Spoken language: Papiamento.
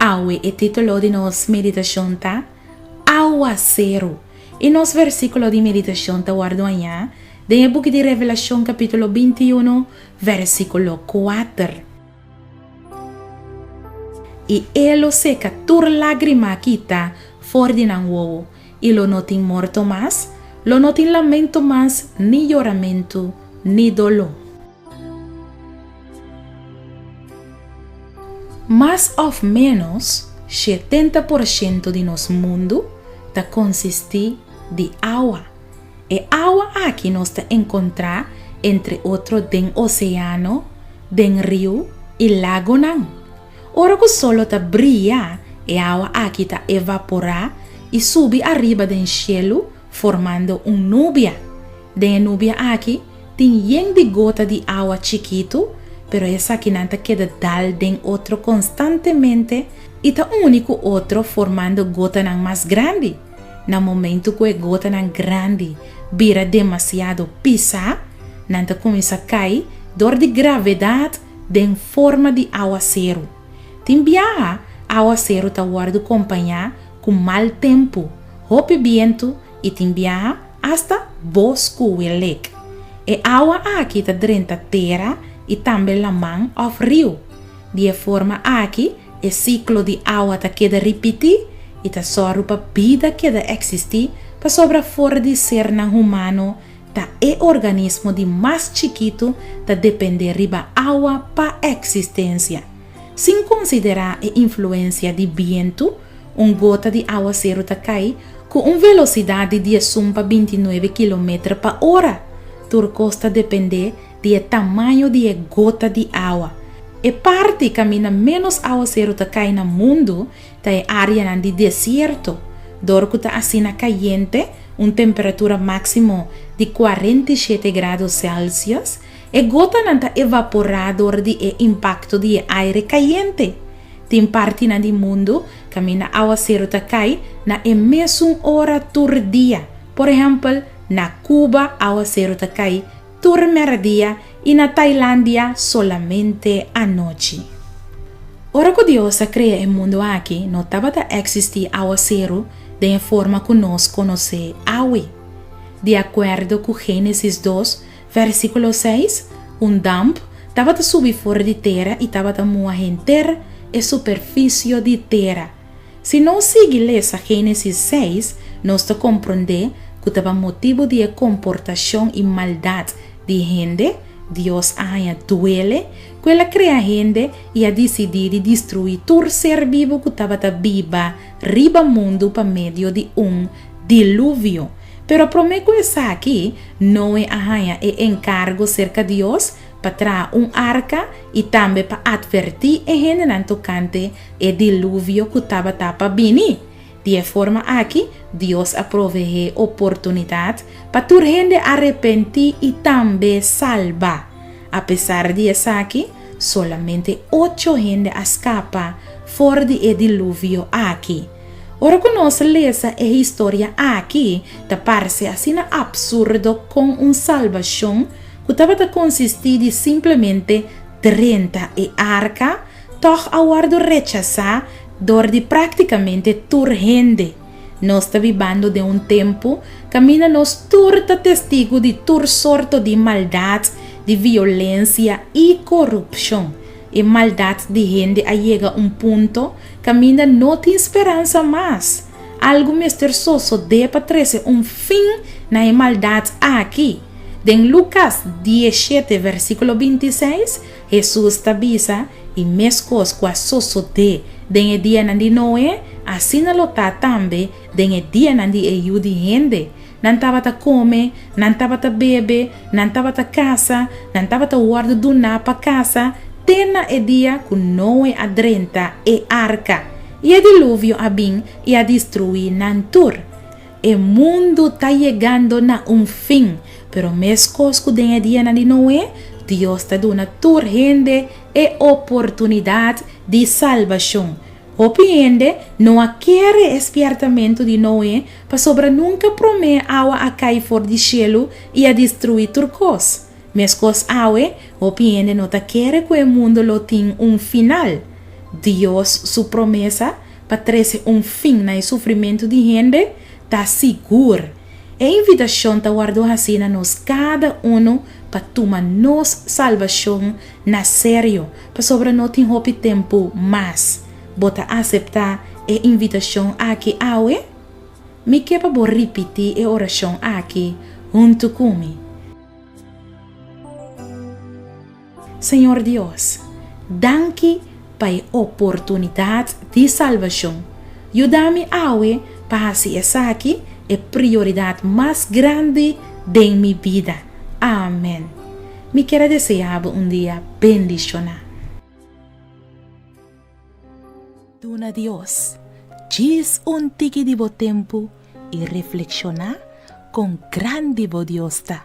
Awe e titulo di nos meditashon ta, Awaseru. I nos versíkulo di meditashon ta wòrdu hañá den e buki di Revelashon kapítulo binti unu, vèrsikulo kuater. I e lo seka tur lágrima a kita for di nan wowo, i lo no tin morto mas, lo no tin lamentu mas, ni yoramentu, ni doló. Mas òf ménos shetenta por shento di nos mundu ta konsistí di awa. E awa aki nos ta encontra entre otro den oceano, den riu y lagonan. Ora cu solo ta bria, e awa aki ta evapora y subi ariba den cielu formando un nubia. Den e nubia aki tin yen di gota di awa chikitu, pero esakinan ta keda dal den otro constantemente y ta uni cu otro formando gotanan mas grandi. Na momentu ku e gotanan grandi bira demasiado pisá, nan ta kuminsá kai dor di gravedat den forma di awaseru. Tin biaha awaseru ta wòrdu kompañá ku mal tempu, hopi bientu i tin biaha asta bos ku welek. E awa aki ta drenta tera i tambe laman òf riu. Di e forma aki E siklo di awa ta keda ripití i ta sòru pa bida keda eksistí pasobra for di sernan humano ta e organismo di mas chikitu ta dependé riba awa pa eksistensia. Sin konsiderá e influensia di bientu, un gota di awaseru ta kai ku un velosidat di diesun pa bintinuebe kilometer pa ora. Tur kos ta dependé di e tamaño di e gota di awa. E parti kaminda ménos awaseru ta kai na mundu ta e áreanan di desierto, dor ku ta asina kayente, un temperatura máksimo di kuarenta i shete grado sèlsius. E gotanan ta evaporá dor di e impakto di e aire kayente. Tin partinan di mundu kaminda awaseru ta kai na e mesun ora tur dia. Por ehèmpel, na Kuba awaseru ta kai Tur meradia i na Tailandia solamente anochi. Ora ku Dios a krea e mundu aki no tabata eksistí áwaseru den e forma ku nos konos'é awe. Di akuerdo ku Génesis dos, vèrsikulo seis, un damp tabata subi for di tera i tabata mua henter e superfisio di tera, Si nos sigui lesa Génesis seis, nos ta komprondé ku ta ba motibu di e komportashon i maldat di hende Dios a haña duele ku el a krea hende i a disidí di destruí tur ser bibu ku tabata biba riba mundu pa medio di un diluvio. Pero promé ku esaki, Noe a haña e enkargo serka Dios pa traha un arka i tambe pa atvertí e hendenan tokante e diluvio ku tabata pa bini. Di e forma akí, Dios a proveé oportunidat pa tur hende arepentí i tambe salba. Apesar di esaki, solamente ocho hende a skapa for di e diluvio akí. Ora ku nos lesa e historia akí, ta parse asina apsurdo kon un salbashon ku tabata konsistí di simplemente drenta e arka, tòg a wòrdu rechasá dor di práktikamente tur hende. Nos ta bibando den un tempu kaminda nos tur ta testigu di tur sorto di maldat, di violensia i korupshon. E maldat di hende a yega un punto kaminda no tin speransa mas. Algu mester sosodé pa trese un fin na e maldat aki. Den Lucas dies shete versiculo binti seis, Hesus ta bisa, E meskos cu a sosodé den e dianan di Noé, asina lo ta tambe den e dianan di e Yu di Hende. Nan tabata kome, nan tabata bebe, nan tabata kasa, nan tabata wòrdu duná pa kasa, te na e dia ku Noe a drenta e arka, i e diluvio a bin i a destruí nan tur. E mundu ta yegando na un fin, pero meskos ku den e dianan di Noe, Dios ta duna tur hende e oportunidat di salbashon. Hopi hende no a kier e espièrtamentu di Noe pasobra nunka promé awa a kai for di shelu i a destrui tur kos. Meskos awe, hopi hende no ta kere ku e mundu lo tin un final. Dios su promesa pa trese un fin na e sufrimentu di hende ta sigur. E invitashon ta wardó hasí na nos kada unu pa tuma nos salbashon na serio, pasobra no tin hopi tempu mas. Bo ta aseptá e invitashon aki awe? Mi ke pa bo ripití e orashon aki huntu ku mi. Señor Dios, danki pa e oportunidad di salbacion. Yuda mi awe pa haci esaki e prioridad mas grandi den mi bida. Amen. Mi kier a desea bo un dia bendiciona. Duna Dios djis un tiki di bo tempu i reflexiona con grandi bo Dios ta.